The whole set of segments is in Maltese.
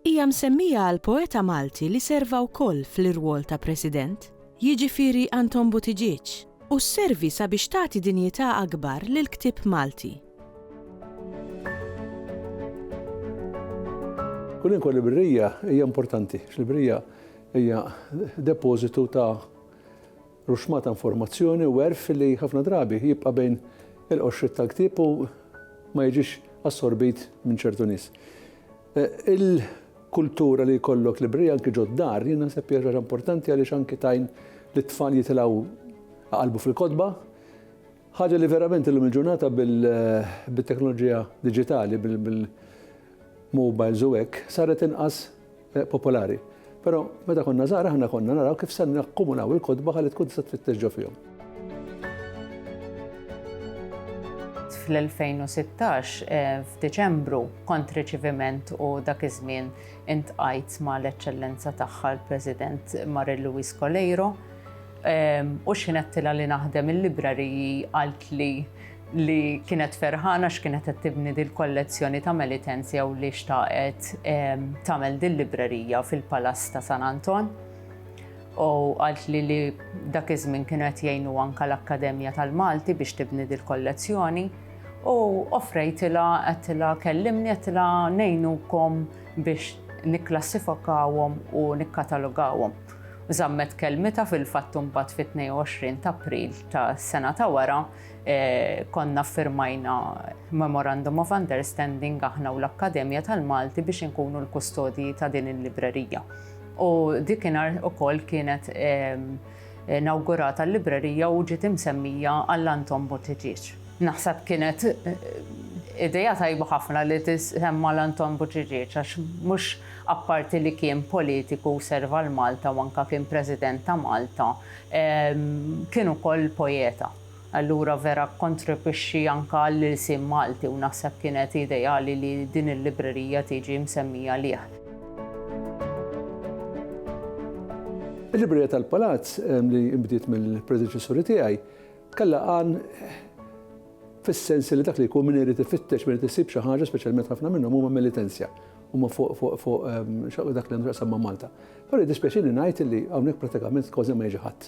Hija msemmija għal poeta Malti li serva wkoll fl-irwol ta' President, jiġifieri Anton Buttigieg, u sservi sabiex tagħti dinjità akbar lill-ktieb Malti. Kwalunkwe librerija hija importanti, għax librerija hija depożitu ta' ruxma ta' informazzjoni u għerf li ħafna drabi jibqa' bejn il-qoxriet tal-ktieb u ma jiġix assorbit minn ċertu nies. Il-kultura li jkollok librerija anki ġod-dar jien naħseb hija xi ħaġa importanti għaliex anki tgħin lit-tfal jitilgħu jqallbu fil-kotba. Ħaġa li verament illum il-ġurnata bit-teknoloġija diġitali, bil-mobiles u hekk, saret inqas popolari. Però meta konna żgħar aħna konna naraw kif se nakkumulaw il-kotba ħalli tkun tista' tfittex ġo fihom. fl-2016 eh, f'Diċembru kont riċiviment u dak iż-żmien intqajt ma' l-eċċellenza tagħha l-President Marie Louise Coleiro ehm, u x'inqedtilha li naħdem il-librariji għalt li li kienet ferħana x'kienet qed tibni dil-kollezzjoni ta' Melitens jew li xtaqet tagħmel dil-librerija fil-Palass ta' San Anton. U għalt li li dak iż-żmien kienu qed jgħinu anka l-Akkademja tal-Malti biex tibni dil-kollezzjoni u offrejtila għattila kellimni għattila nejnukom biex nikklassifikawhom u nikkatalogawhom. Zammet kelmita fil-fatt imbagħad fit-22 ta' April ta' sena ta' wara Konna ffirmajna Memorandum of Understanding aħna u l-Akkademja tal-Malti biex inkunu l-kustodji ta' din il-librerija. U dikinhar ukoll kienet nawgurata l-librerija u ġiet imsemmija għall-Anton Buttigieg. Naħseb kienet eh, ideja tajba ħafna li tisemma l-Anton Buġiġieċ għax mhux apparti li kien politiku serva l-Malta u anka kien President ta' Malta, Kien ukoll poeta, allura vera kkontribwixxi anke għall-ilsien Malti u naħseb kienet ideali li din il-librerija tiġi msemmija lih. Il-Librerija tal-Palazz, li nbdiet mill-predeċessuri tiegħi, kellha għan fis-sens li dak li jkun min irid ifittex, min irid isib xi ħaġa, speċjalment ħafna minnhom huma mill-Itenzja, huma fuq dak li għandu x'jaqsam ma' Malta. Però jiddispjaċini ngħid li hawnhekk prattikament kważi ma jiġi ħadd.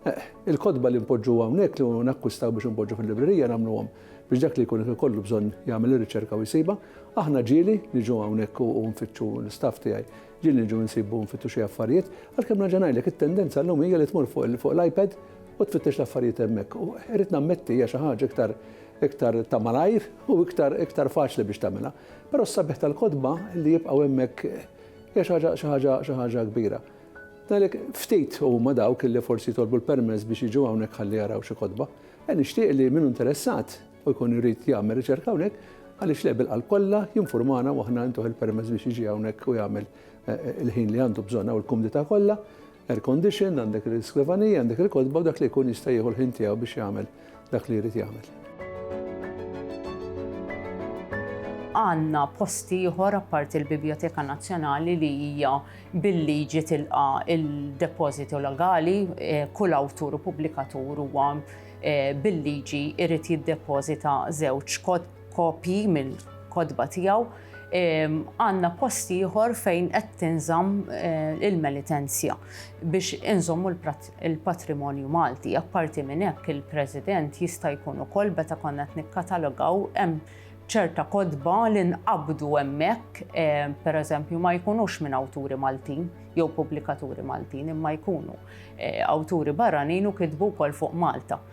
Eħ, il-kotba li npoġġu hawnhekk li nakkwistaw biex inpoġġu fil-librerija nagħmluhom biex dak li jkun qed ikollu bżonn jagħmel ir-riċerka u jsibha. Aħna ġieli niġu hawnhekk u nfittxu, l-istaff tiegħi, ġieli niġu nsibu nfittu xi affarijiet, għalkemm nerġa' ngħidlek it-tendenza llum hija li tmur fuq l-iPad u tfittex l-affarijiet hemmhekk. U irrid nammetti hija xi ħaġa iktar iktar ta' malajr u iktar iktar faċli biex tagħmilha. Però s-sabiħ tal-kotba li jibqgħu hemmhekk Hija xi ħaġa, xi ħaġa, xi ħaġa kbira. Għalhekk ftit huma dawk li forsi jitolbu l-permess biex jiġu hawnhekk ħalli jaraw xi kotba. E nixtieq li min interessat u jkun irid jagħmel riċerka hawnhekk, għaliex le bil-qalb kollha jinfurmana u aħna ntuh il-permess biex jiġi hawnhekk u jagħmel eh, eh, il-ħin li għandu bżonn u l-kumdità kollha. Air condition, għandek il-skrivanija, għandek il-kotba u dak li jkun jista' jieħu l-ħin tiegħu biex jagħmel dak li jrid jagħmel. Għandna posti ieħor apparti l-Biblioteka Nazzjonali li hija bil-liġi tilqa il-depożitu legali, eh, kull awtur u pubblikatur huwa eh, bil-liġi irid jiddepożita żewġ kotb kopji mill-kotba tiegħu, għandna post ieħor fejn qed tinżamm eh, il-melitenzja biex inżommu l-patrimonju Malti. Apparti minn hekk il-President jista' jkun ukoll beta konna qed nikkatalogaw hemm ċerta kodba li nqabdu hemmhekk, eh, pereżempju ma jkunux minn awturi Maltin jew pubblikaturi Maltin imma jkunu eh, awturi barranin u kitbu wkoll fuq Malta.